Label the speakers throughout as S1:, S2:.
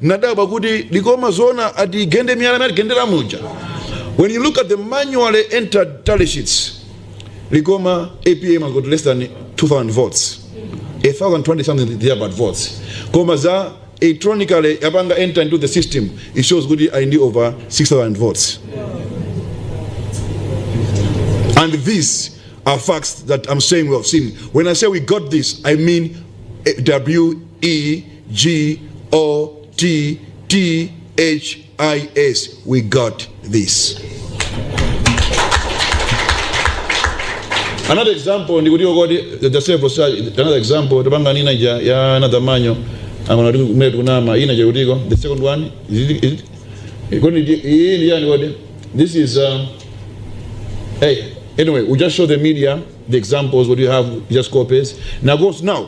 S1: nadabwa kuti likoma zoona atigende miyala imene atigendera muja when you look at the manually entered tally sheets likoma apm has got less than 2000 votes 1020 something thereabout votes koma za electronically yapanga enter into the system it shows kuti ali ndi over 6000 votes and these are facts that i'm saying we have seen when i say we got this i mean eh, w E G O T T H I S. We got this. Another example ndi kuti okoti the several such another example tapanga nina ja ya another manyo amana kuti kumene tikunama ina ja kutiko the second one is it, is it kodi ndi- iyi ndi yani kodi this is uh, hey anyway we just show the media the examples what you have just copies now goes now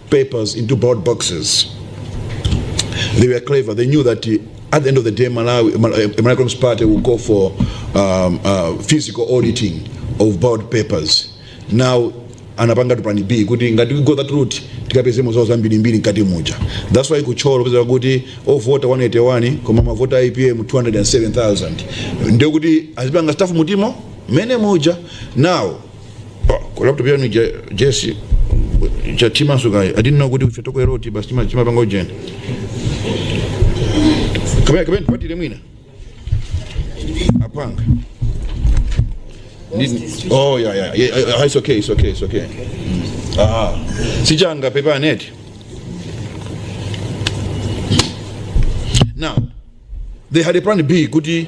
S2: papers into ballot boxes. They were clever. They knew that uh, at the end of the day, Malawi, Mal- uh, Malawi Congress Party will go for um, uh, physical auditing of ballot papers. Now, anapanga tu plan B kuti ngati we go that route tikapeze mavoti ambirimbiri mkati muja that's why kuchopeza kuti ovota 181 koma mavoti a APM 207,000 ndikuti azipanga stuff mmenemo mmene muja now Pa- ku laptop yanu ija Jessie yathimanso kodi i didn't know kuti ife tikuona ngati basi tima- timapanga ujeni kapena kapena tipatire mwina apanga Ndi- oh yeah yeah, yeah yeah, ah, it's okay it's okay it's okay Mm. aha Sindinaphe paneti now they had a plan b kuti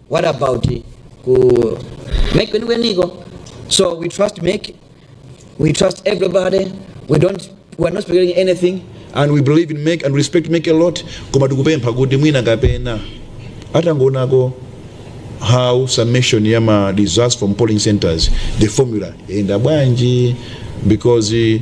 S2: what about ku make kwenikweniko so we trust make we trust everybody we don't we are not speculating anything and we believe in make and respect make a lot koma tikupempha kuti mwina kapena atangoonako how summation ya ma results from polling centers the formula yenda bwanji because eh,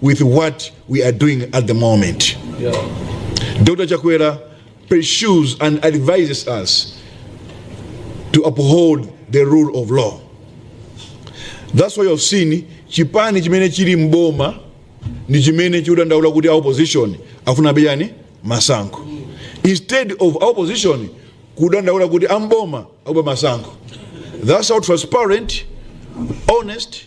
S2: with what we are doing at the moment. Yeah. Dr. Chakwera pursues and advises us to uphold the rule of law. That's why you've seen chipani chimene chili
S1: mboma ndi chimene chikudandaula kuti opposition afuna abe masankho instead of opposition kudandaula kuti amboma aba masankho that's how transparent honest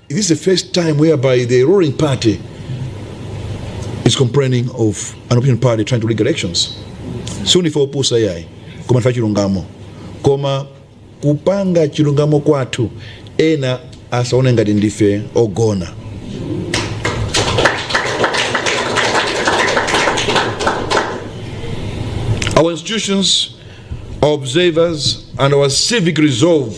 S1: This is the first time whereby the ruling party is complaining of an opposition party trying to rig elections. Si ndife opusa iyayi koma ndife achilungamo koma kupanga chilungamo kwathu ena asaone ngati ndife ogona our institutions our observers and our civic resolve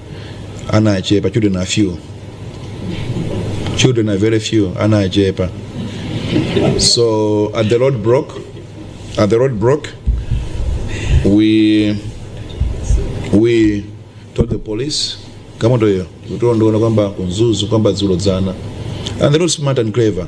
S1: ana achepa children are few children are very few ana achepa so at the road broke at the road broke we we told the police kama ndoyo kutondoona kwamba kunzuzu kwamba dzulo dzana and they look smart and clever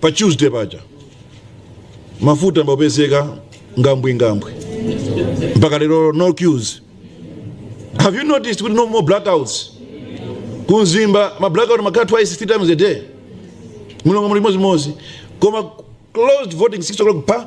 S1: pa tuesday paja mafuta amapezeka ngambwingambwi mpaka lero no queues have you noticed kuti no more blackouts ku Mzimba ma blackout amakhala twice three times a day Lilongwe chimodzimodzi koma closed voting 6 o'clock pa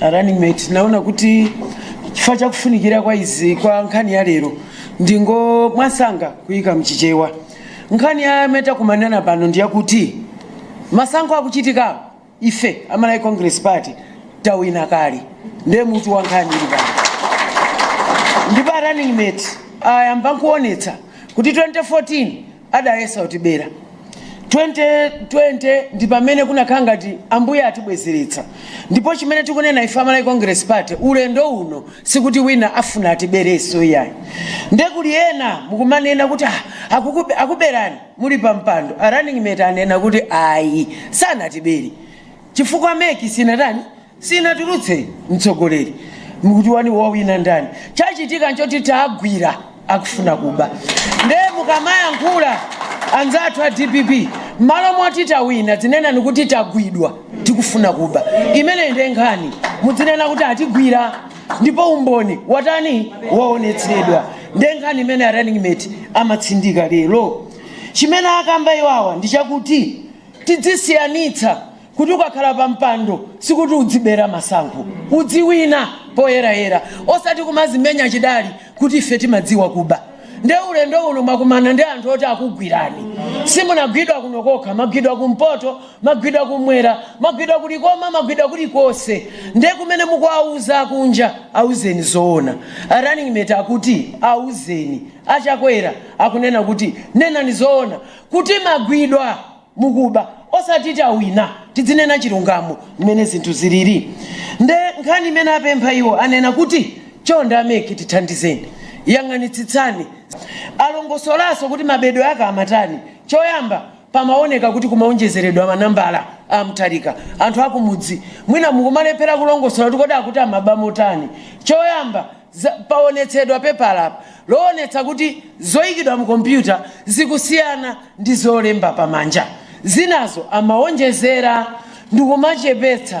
S3: running mate ndinaona kuti chifukwa chakufunikira kwa izi kwa nkhani ya lero ndingomwansanga kuyika mchichewa nkhani yomwe takumanirana pano ndiyakuti masankho akuchitikawa ife a Malawi congress party tawina kale ndiye mutu wa nkhani ili pano ndipo a running mate ayamba nkuonetsa kuti 2014 adayesa kutibera. 2020 ndi pamene kunakhala ngati Ambuye atibwezeretsa ndipo chimene tikunena ife a Malawi Congress Party ulendo uno sikuti wina afuna atiberenso iyayi. Nde kuli ena akumanena kuti ah, akukube- akuberani muli pa mpando a running mate anena kuti ayi sanatibere chifukwa MEC sinatani sinatulutse mtsogoleri mukuti wani wawina ndani chachitika nchoti taagwira akufuna kuba nde mukamayankhula anzathu a dpp mmalo moti tawina dzinenani kuti tagwidwa tikufuna kuba imeneyi nde nkhani mudzinena kuti atigwira ndipo umboni watani waonetsedwa nde nkhani imene a running mate amatsindika lero chimene akamba iwawa ndi chakuti tidzisiyanitsa Kuti ukakhala pa mpando sikuti udzibera masankho. Udziwina poyerayera osati kumazimenya chidali kuti ife timadziwa kuba. Nde ulendo uno mwakumana ndi anthu oti akugwirani. Simunagwidwa kuno kokha, mwagwidwa ku mpoto, mwagwidwa ku mwera, mwagwidwa ku likoma, mwagwidwa kulikonse. Nde kumene mukuwauza kunja auzeni zoona. A running mate akuti auzeni. A Chakwera akunena kuti nenani zoona kuti magwidwa. mukuba osati tawina tidzinena chilungamo mmene zinthu zilili nde nkhani imene apempha iwo anena kuti chonde a mec tithandizeni yang'anitsitsani alongosolaso kuti mabedwe ake amatani choyamba pamaoneka kuti kumaonjezeredwa manambala a amutharika anthu akumudzi mwina mukumalephera kulongosola kuti kodi akuti amaba motani choyamba paonetsedwa pepala loonetsa kuti zoyikidwa mu kompyuta zikusiyana ndi zolemba pamanja. Zinazo amawonjezera ndi kumachepetsa.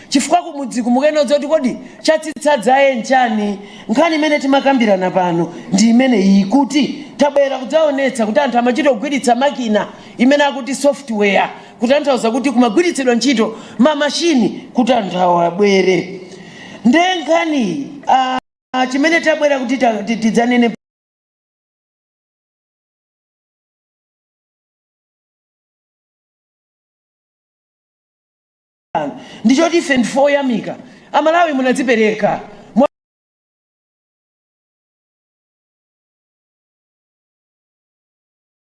S3: Chifukwa kumudziku mukayenera kudziwa kuti kodi chatsitsa dzaye n'chani? Nkhani imene timakambirana pano ndi imene iyi kuti tabwera kudzaonetsa kuti anthu amachita kugwiritsa makina imene akuti software kutanthauza kuti kumagwiritsidwa ntchito ma machine kuti anthu awabere nde nkhani chimene tabwera kuti tidzanene ndi choti ife ndife oyamika amalawi munadzipereka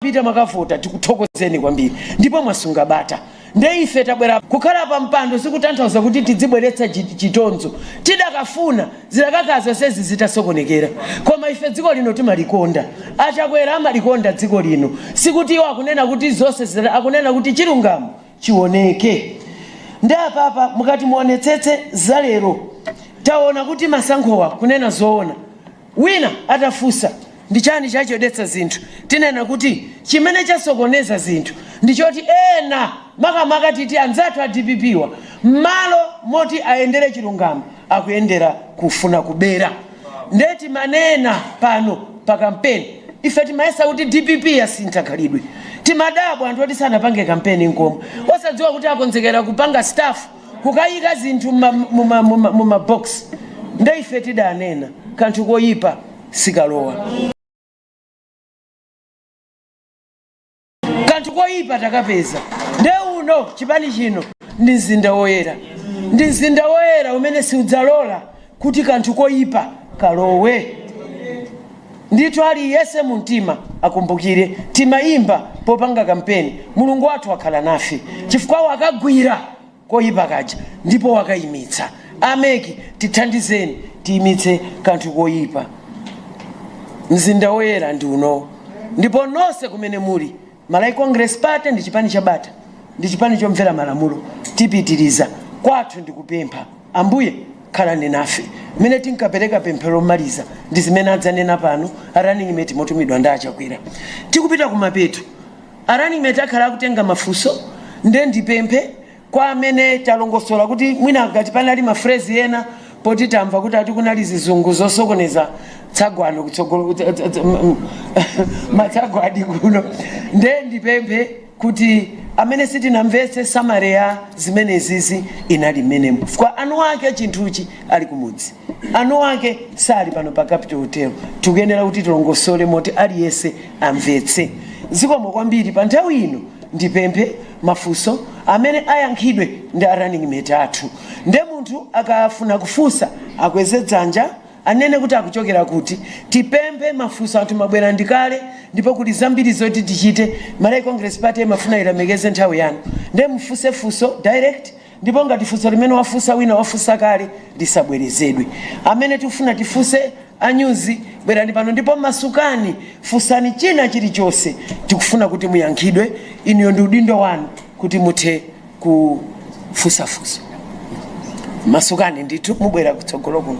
S3: mwapita mwakavota tikuthokozeni kwambiri ndipo mwasunga bata nde ife tabwera kukhala pa mpando sikutanthauza kuti tidzibweretsa chitonzo tidakafuna zidakakhala zonsezi zitasokonekera koma ife dziko lino timalikonda achakwera amalikonda dziko lino sikuti iwo akunena kuti zonse akunena kuti chilungamo chioneke. Nde apapa mukati muonetsetse za lero taona kuti masankhowa kunena zoona wina atafunsa ndi chani chachedwetsa zinthu tinena kuti chimene chasokoneza zinthu ndi choti ena makamaka titi anzathu a dpp-wa mmalo moti ayendere chilungamo akuyendera kufuna kubera nde timanena pano pa kampeni ife timayesa kuti dpp yasintha khalidwe timadabwa anthu oti sanapange kampeni nkomwe osadziwa kuti akonzekera kupanga stuff kukayika zinthu mumabox nde ife tidanena kanthu koyipa sikalowa kanthu koyipa takapeza nde uno chipani chino ndi mzinda woyera ndi mzinda woyera umene siudzalola kuti kanthu koyipa kalowe ndithu aliyense mu mtima akumbukire timayimba popanga kampeni mulungu wathu wakhala nafe chifukwa wakagwira koyipa kaja ndipo wakayimitsa. A mec tithandizeni tiyimitse kanthu koyipa. Mzinda woyera ndi unowu. Ndipo nonse kumene muli, Malawi Congress Party ndi chipani cha bata, ndi chipani chomvera malamulo, tipitiriza. Kwathu ndi kupempha. Ambuye khalani nafe. Mmene tinkapereka pemphero lomaliza ndi zimene adzanena pano a runningmate motumidwa ndi a Chakwera. Tikupita kumapeto. A Running-mate akhala akutenga mafunso nde ndipemphe kwa amene talongosola kuti mwina ngati panali ma phrase ena poti tamva kuti ati kunali zizungu zosokoneza tsagwano kutsogolo matsagwadi kuno nde ndipemphe kuti amene sitinamvetse summary ya zimenezi inali mmenemo chifukwa eni ake a chinthuchi ali kumudzi. eni ake sali pano pa capital hotel tikuyenera kuti tilongosole moti aliyense amvetse zikomo kwambiri pa nthawi ino ndipemphe mafunso amene ayankhidwe ndi a running mate athu nde munthu akafuna kufunsa akweze dzanja anene kuti akuchokera kuti tipemphe mafunso anthu mabwera ndi kale ndipo kuli zambiri zoti tichite malawi congress party imafuna ilemekeze nthawi yanu nde mufunse funso direct Ndipo ngati funso limene wafunsa wina wafunsa kale lisabwerezedwe. Amene tikufuna tifunse a nyuzi bwerani pano ndipo masukani funsani china chilichonse tikufuna kuti muyankhidwe inuyo ndi udindo wanu kuti muthe kufunsa funso. Masukani ndithu mubwera kutsogolo kuno.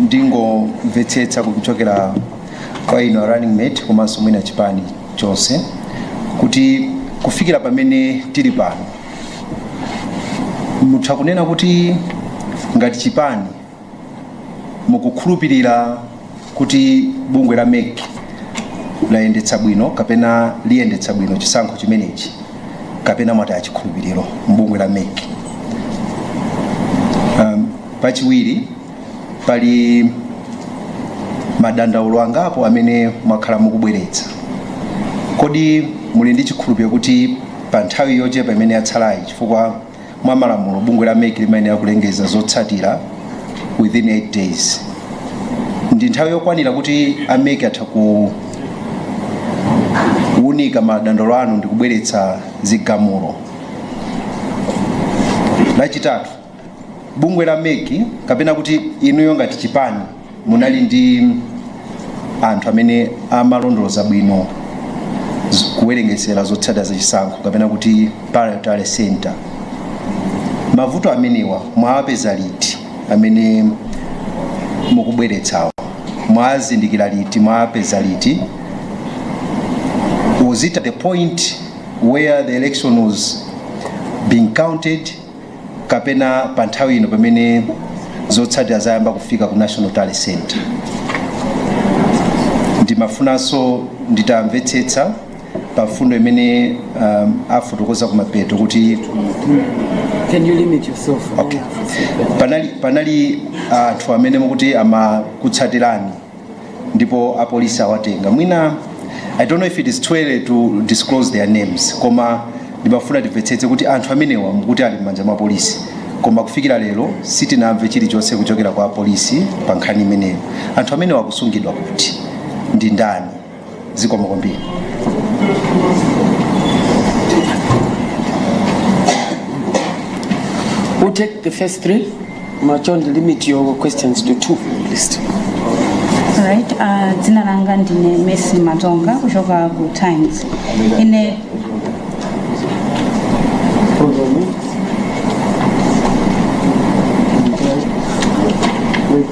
S4: ndingomvetsetsa kuchokera kwa inu a running mate komanso mwina chipani chonse kuti kufikira pamene tili pano mutha kunena kuti ngati chipani mukukhulupirira kuti bungwe la mec layendetsa bwino kapena liyendetsa bwino chisankho chimenechi kapena mwataya chikhulupiriro mbungwe la mec um, pachiwiri pali madandaulo angapo amene mwakhala mukubweretsa kodi muli ndi chikhulupiriro kuti pa nthawi yochepa imene yatsalayi chifukwa mwa malamulo bungwe la mec limayenera kulengeza zotsatira within 8 days ndi nthawi yokwanira kuti a mec atha kuwunika madandaulo anu ndi kubweretsa zigamulo lachitatu bungwe la mec kapena kuti inuyo ngati chipani munali ndi anthu amene amalondoloza bwino z- kuwerengetsera zotsatira za chisankho kapena kuti parallel tally center mavuto amenewa mwawapeza liti amene mukubweretsawo mwazindikira liti mwapeza liti was it at the point where the election was being counted kapena pa nthawi ino pamene zotsatira zayamba kufika ku national tally center ndimafunanso nditamvetsetsa pa mfundo imene um, afotokoza kumapeto
S3: kuti Can you limit yourself? okay.
S4: panali anthu amene mukuti amakutsatirani ndipo apolisi awatenga mwina i don't know if it is too early to disclose their names koma ndimafuna timvetsetse kuti anthu amenewa mukuti ali m'manja mwa polisi koma kufikira lero sitinamve chilichonse kuchokera kwa polisi pa nkhani imeneyo anthu amenewa akusungidwa kuti ndi ndani zikomo
S3: kwambiri We'll take the first three. Machon, limit your questions to two, please.
S5: Alright, uh, dzina langa ndine Mercy Matonga kuchoka ku Times. Ine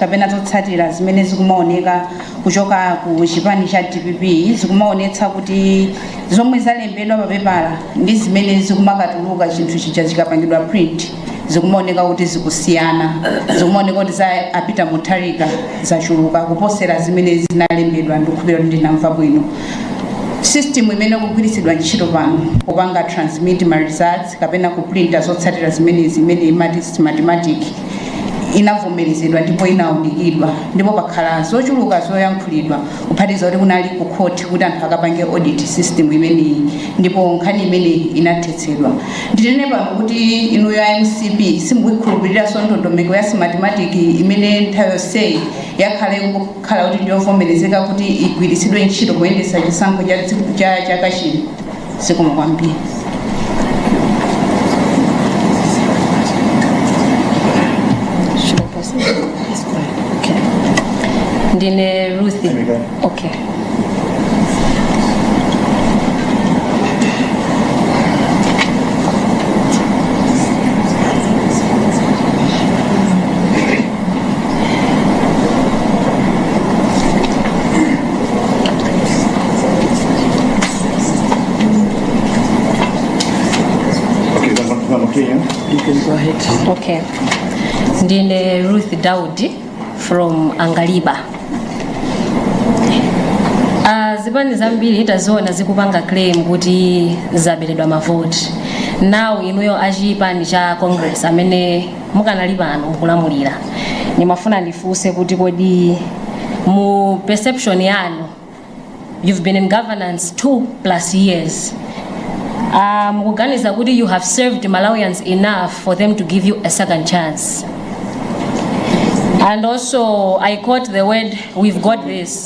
S5: kapena zotsatira zimene zikumaoneka kuchoka ku chipani cha dpp zikumaonetsa kuti zomwe zalembedwa papepala ndi zimene zikumakatuluka chinthu chija chikapangidwa print zikumaoneka kuti zikusiyana zikumaoneka kuti za a peter mutharika zachuluka kuposera zimene zinalembedwa ndikukhulupira kuti ndinamva bwino system imene ikugwiritsidwa ntchito pano kupanga transmit ma results kapena kuprinta zotsatira zimenezi imene imati smartmatic inavomerezedwa ndipo inaunikidwa ndipo pakhala zochuluka zoyankhulidwa kuphatiza kuti kunali ku court kuti anthu akapange audit system imeneyi ndipo nkhani imeneyi inathetsedwa ndinene pano kuti inuyo a mcp simukuikhulupiriranso ndondomeko ya smartmatic imene nthawi yonseyi yakhala iku- kukhala kuti ndiyovomerezeka kuti igwiritsidwe ntchito kuyendetsa chisankho cha chaka chino zikomo
S6: kwambiri Should I pause? It's fine. Okay. Ndine Ruth. Okay.
S3: Okay.
S6: Ndine Ruth Daudi from Angaliba. Uh, zipani zambiri taziona zikupanga claim kuti zaberedwa mavoti now inuyo achipani cha congress amene mukanali pano mukulamulira ndimafuna ndifunse kuti kodi mu perception yanu you've been in governance two plus years uh, mukuganiza kuti you have served malawians enough for them to give you a second chance and also i caught the word we've got this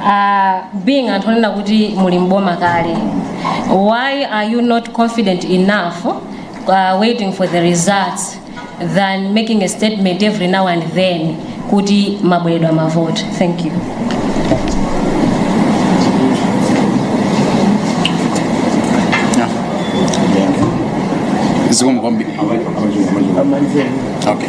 S6: uh, being anthu onena kuti muli mboma kale why are you not confident enough uh, waiting for the results than making a statement every now and then kuti mwaberedwa mavoti thank you
S7: zikomo kwambiri okay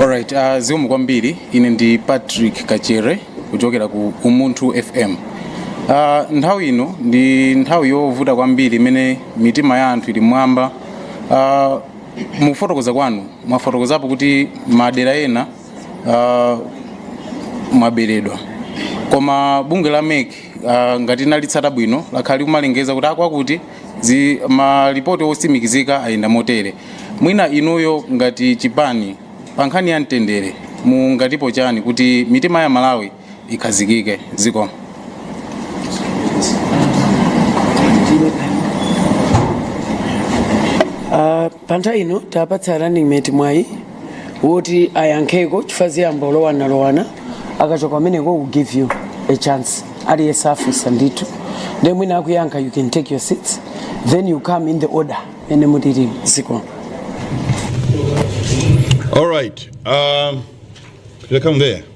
S7: Alright, uh, zikomo kwambiri ine ndi Patrick Kachere kuchokera ku Umunthu FM. Uh, nthawi ino ndi nthawi yovuta kwambiri imene mitima ya anthu ili m'mwamba. Uh, mukufotokoza kwanu mwafotokozapo kuti madera ena uh, mwaberedwa koma bungwe la mec uh, ngati ndalitsata bwino lakhala likumalengeza kuti akwakuti zi- malipoti osimikizika ayenda motere mwina inuyo ngati chipani pa nkhani ya mtendere mungatipo chani kuti mitima ya amalawi ikhazikike zikomo
S3: Pa nthawi ino tapatsa running mate mwayi woti ayankheko chifukwa ziyamba kulowanalowana akachoka kumeneko we'll give you a chance aliyense afunsa ndithu ndiye mwina akuyankha you can take your seats then you come in the order mmene mulili
S1: zikomo All right. Um, should I come there?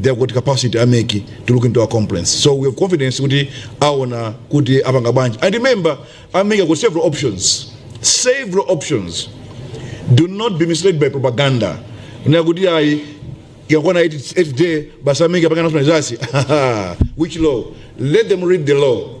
S1: they have got capacity ameki to look into our complaints so we have confidence kuti aona kuti apanga bwanji and remember ameki ako several options several options do not be misled by propaganda na kuti ayi ikakwana 8 day basi ameki apanga national results which law let them read the law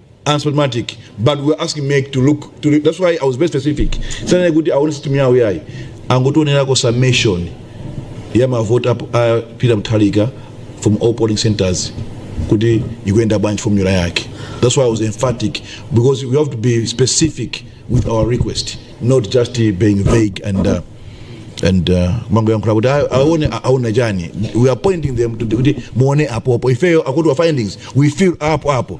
S1: unspotmatic but we were asking make to look to re- that's why i was very specific sanene kuti aone system yawo yayi angotionerako summation ya mavoti apo- a peter mutharika from all polling centers kuti ikuyenda bwanji formula yake that's why i was emphatic because we have to be specific with our request not just uh, being vague and uh, and uh, mango yankhula kuti "Ah, aone a- aona chani we are pointing them to kuti muone apo apo ifeyo akuti wa findings we feel apo apo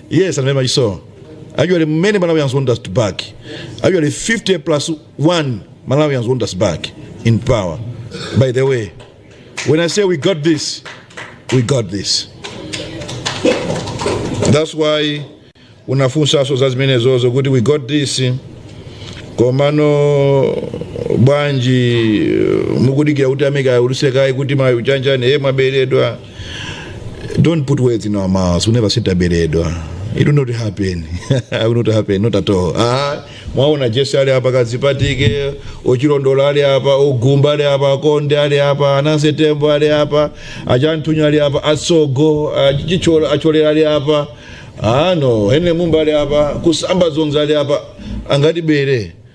S1: Yes, and very much so. Actually, many Malawians want us back. Actually, 50 plus one Malawians want us back in power. By the way, when I say we got this, we got this. That's why unafunsanso za zimenezozo kuti we got this komano bwanji mukudikira kuti a MEC aulutse kaye kuti mwina muchanena eh mwaberedwa Don't put words in our mouths. We never said taberedwa. It will not happen. it will not happen. Not at all. Ah, mwaona Jesse ali hapa kazipatike, Ochilondola ali hapa, Ogumba ali hapa, Konde ali hapa, Ananse Tembo ali hapa, Ajantunya ali hapa, Asogo, Ajichola Achole ali hapa. Ah no, Henry Mumba ali hapa, Kusamba Zonza ali hapa. Angati bere.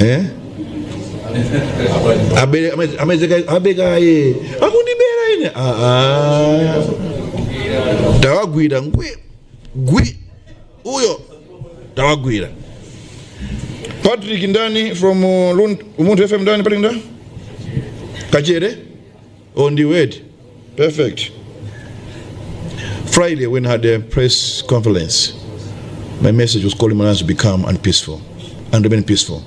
S1: eh? abekaye akundibera ine Ah, ah. tawagwira ngwi gwi uyo tawagwira patrick ndani from uh, Lund- umunthu fm ndani patrick ndani kachere Oh, ndiwedi perfect friday when i had a press conference my message was calling malawians to become and peaceful and remain peaceful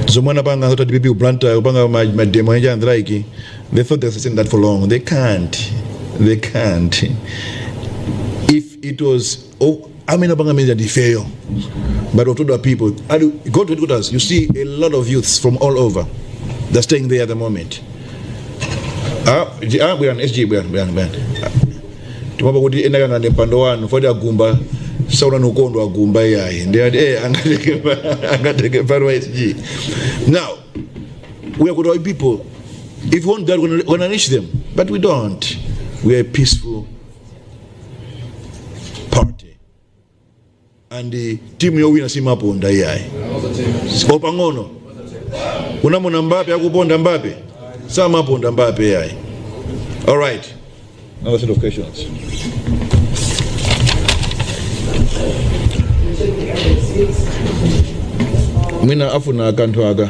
S1: zomwe anapanga zoti dpp kuplanta kupanga ma- mademo enje and like they thought they sustained that for long they can't they can't if it was Oh, I mean, about means that fail, but what other people? Go to Kutas. You see a lot of youths from all over. They're staying there at the moment. Ah, ah, bwana SG bwana bwana bwana. Tumaba kuti enda kana nepando wanu fodi agumba sauna nukondo agumba yayi. Ndi ati eh angateke pa- angateke pano wa SG. Now we are good people. If we want God, we're gonna unleash them, but we don't. We are peaceful party and eh, timu yowina simaponda iyayi sipo pang'ono unamona mbape akuponda mbape samaponda mbape iyayi all right another set of questions mwina afuna akanthu aka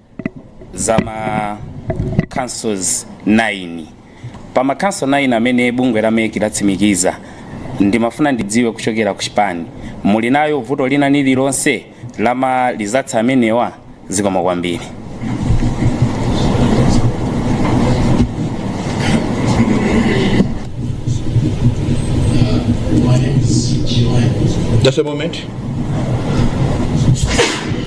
S8: za ma council 9 pa ma council 9 amene bungwe la MEC latsimikiza ndimafuna ndidziwe kuchokera ku chipani muli nalo vuto lina lililonse la ma results amenewa zikomo
S1: kwambiri Just a moment.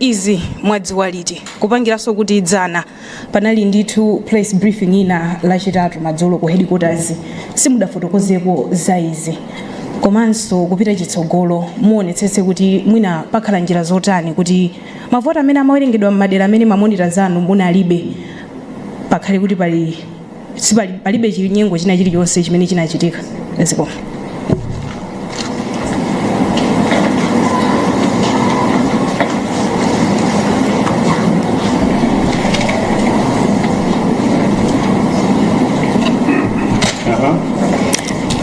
S9: Izi mwadziwa liti? Kupangiranso kuti dzana panali ndithu press briefing ina lachitatu madzulo ku headquarters simudafotokozeko za izi komanso kupita chitsogolo muonetsetse kuti mwina pakhala njira zotani kuti mavoti amene amawerengedwa mmadera amene ma monitors anu munalibe pakhale kuti pali palibe chinyengo china chilichonse chimene chinachitika zikomo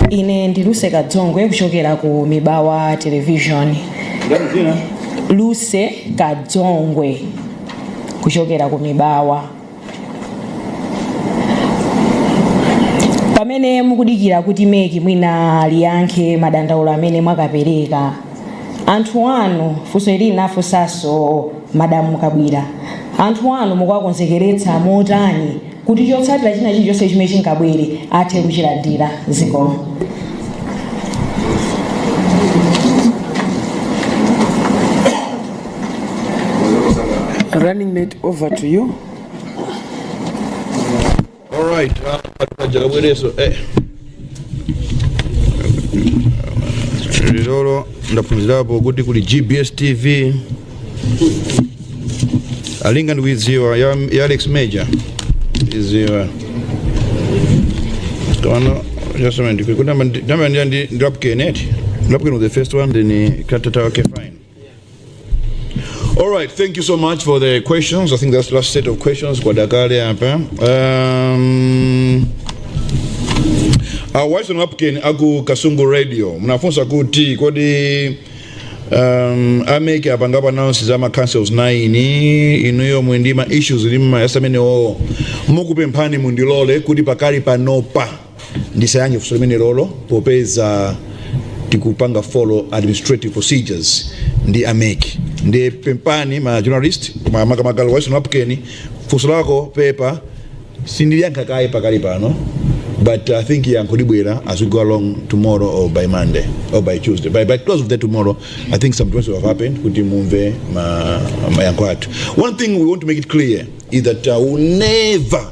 S9: ine ndi luse kadzongwe kuchokera ku mibawa television luse kadzongwe kuchokera ku mibawa pamene mukudikira kuti MEC mwina liyankhe madandaulo amene mwakapereka anthu anu funso ili ndinafunsanso madamu Kabwila anthu anu mukuwakonzekeretsa motani kuti chotsatira china chilichonse chimene chingabwere athe kuchilandira zikomo
S3: Running mate, over to
S1: you. All right, uh, paja abwerenso eh. lero ndaphunzirapo kuti kuli gbs tv ndinali ndikuidziwa ya, ya alex major idziwa tsono just a minute kuti ndamandira ndi ndi lapken eti lapken was the first one then uh, kachitatu wake fine All right, thank you so much for the questions. I think that's the last set of questions. Kwa dakale hapa. Um, our wife Wapkin aku Kasungu Radio. Mnafunsa kuti kodi um, a MEC apanga announce za ma councils 9 inuyo muli ndi ma issues ndimayesa mmene o ndikupemphani mundilole kuti pakali panopa ndisayankhe funso limenelolo popeza tikupanga follow administrative procedures ndi a mec ndipempheni ma journalist ma- makamaka lowayiso napkeni funso lako pepa sindiliyankha kaye pakali pano but i think yankho libwera as we go along tomorrow or by monday or by tuesday by, by close of day tomorrow i think some things will have happened kuti mumve ma- mayankho athu one thing we want to make it clear is that uh, we never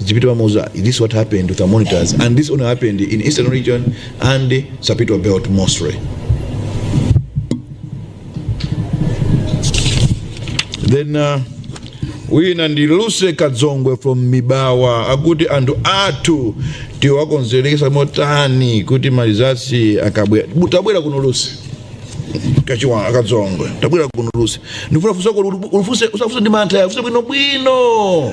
S1: Zipito Mamuza, this is what happened with our monitors, and this only happened in Eastern region and Sapitwa Belt mostly. Then uh, wina ndi Lucy Kadzongwe from Mibawa akuti anthu athu tiwakonzekeretsa motani kuti ma results akabwera tabwera kuno Lucy kachiwa akadzongwe tabwera kuno Lucy ndifuna funsolo ulifunse usafunse ndi mantha ufunse bwino bwino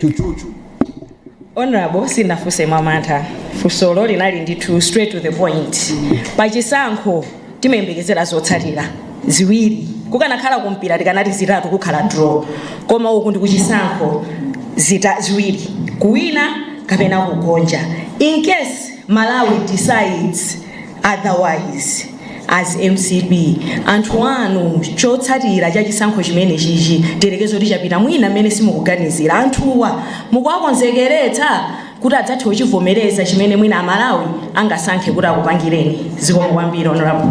S9: chuchuchu honorable sindinafunse mwamantha funsolo linali ndithu straight to the point pachisankho timayembekezera zotsatira ziwiri kukanakhala kumpira tikanati zitatu kukhala draw koma uku ndi kuchisankho ziwiri kuwina kapena kugonja in case malawi decides otherwise as mcp anthu anu chotsatira cha chisankho chimene chichi tiyerekeze kuti chapita mwina mmene simukuganizira anthuwa mukuwakonzekeretsa kuti adzathe kuchivomereza chimene mwina amalawi angasankhe kuti akupangireni zikomo kwambiri honorable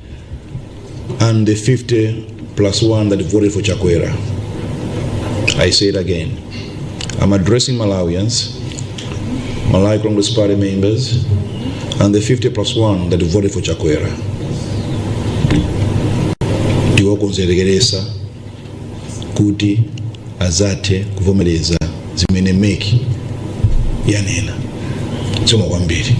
S1: and the 50 plus one that voted for Chakwera. I say it again. I'm addressing Malawians, Malawi Congress Party members, and the 50 plus one that voted for Chakwera. Tiwakonzekeretsa kuti azathe kuvomereza zimene MEC yanena. Zikomo kwambiri.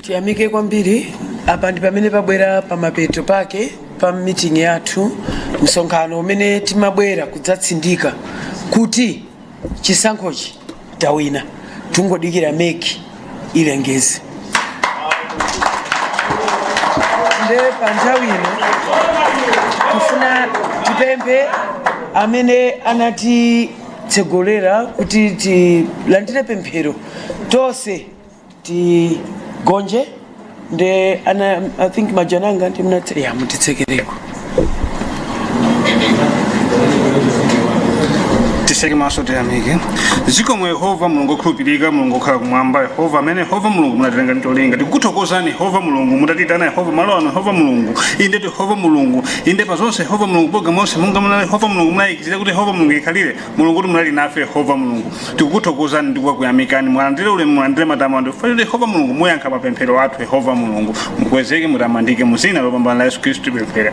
S3: tiyamike kwambiri apa ndi pamene pabwera pamapeto pake pa meeting yathu msonkhano omwe timabwera kudzatsindika kuti chisankhochi tawina tungodikira meki ilengeze nde pa nthawi ino tifuna tipemphe amene anatitsogolera kuti tilandire pemphero tonse tigonje nde ana i think majananga ndi mnati a
S10: mutitsekereko tiseke maso tiyamike zikomo yehova mulungu okhulupirika mulungu okhala kumwamba yehova amene yehova mulungu munatilenga ndi cholinga tikuthokozani yehova mulungu mutatitana yehova malo ano yehova mulungu inde yehova mulungu inde pa zonse yehova mulungu programu yonse munga muna yehova mulungu munayikizira kuti yehova mulungu ikhalire mulungu kuti munali nafe yehova mulungu tikukuthokozani ndi kukuyamikani mulandire ulemu mulandire matamando chifukwa choti yehova mulungu muyankha mapemphero athu yehova mulungu mukwezeke mutamandike mu dzina lopambana la yesu khristu tipemphera